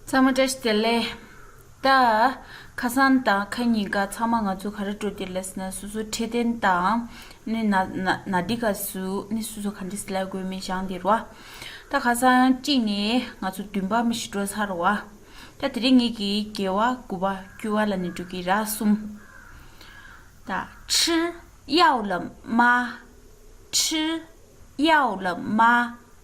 ཚང་མ་བཀྲ་ཤིས་བདེ་ལེགས། ད། ཁ་སང་དང་ཁ་ཉིན་ག་ཚང་མ་ང་ཚོ་ག་རེ་སྤྲོ་འདིར་ལས་ཟེར་ན་སོ་སོ་འཕྲལ་བསྟེན་དང། ནི། ན་འདི་ག་སུ་ནི་སུ་སུ་ག་འདི་སི་ལ་དགོས་མིན་ཞང་འདིར་བ། ད་ག་སང་གཅིག་ནི་ང་ཚོ་བདུན་པ་མི་ཞིག་སྤྲོ་ཚར་བ། ད་དེ་རིང་ངེད་ཀྱི་རྒྱལ་བ་དགུ་བ་དཀྱུས་བ་ལ་ནི་འགྲོ་གི་ར་གསུམ། ད། ཁྲི། གཡག་ལ་མ། ཁྲི། གཡག་ལ་མ།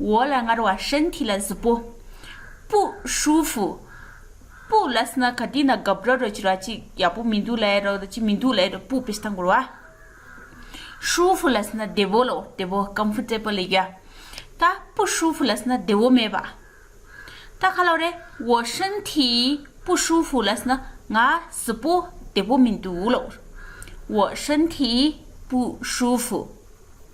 འོག་ལ་ངར་བ་ཧྲན་མཐིལ་ལ་གཟུགས་པོ། པུ་ཧྲུའུ་ཧྥུ། པུ་ལ་སི་ན་ག་དེ་ན་སྒབ་ར་རོ་ཅི་ར་ཅི་ཡག་པོ་མི་འདུག་ལེ་རོ་ཅི་མི་འདུག་ལེ་རོ་པུ་པི་ས་འགུར་བ། ཧྲུའུ་ཧྥུ་ལ་སི་ན་བདེ་བོ་ལོ་བདེ་བོ Comfortable ལེ་གཡའ། ད་པུ་ཧྲུའུ་ཧྥུ་ལ་སི་ན་བདེ་བོ་མེད་པ། ད་ཁ་ལོ་རེ་འོ་ཧྲན་མཐིལ་པུ་ཧྲུའུ་ཧྥུ་ལ་སི་ན་ང་གཟུགས་པོ་བདེ་བོ་མི་འདུག་ལོ། འོ་ཧྲན་མཐིལ་པུ་ཧྲུའུ་ཧྥུ།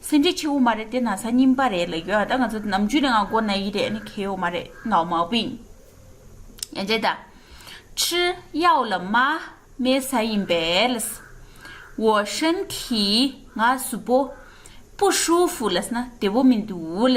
སེམས་ཁྲལ་ཆེ་བོ་མ་རེད་དེ་ན་ཚ་རྙིང་པ་རེད་ལ་ཡོད་ད་ང་ཚོ་ནམ་རྒྱུན་ནས་ང་སྒོར་ན་ཡི་རེད་ནི་ཁེལ་ཡོད་མ་རེད་ནའོ་མའོ་པིན། ཡན་ཅན་ད། ཁྲི་གཡའོ་ལ་མ་མའི་ས་ཡིན་པས་ལ། འོ་ཧྲེན་གིས་ང་སུ་པོ། པུ་ཧྲུའུ་ཧྥུ་ལ་ན་དེ་བོ་མི་འདུག་ལ།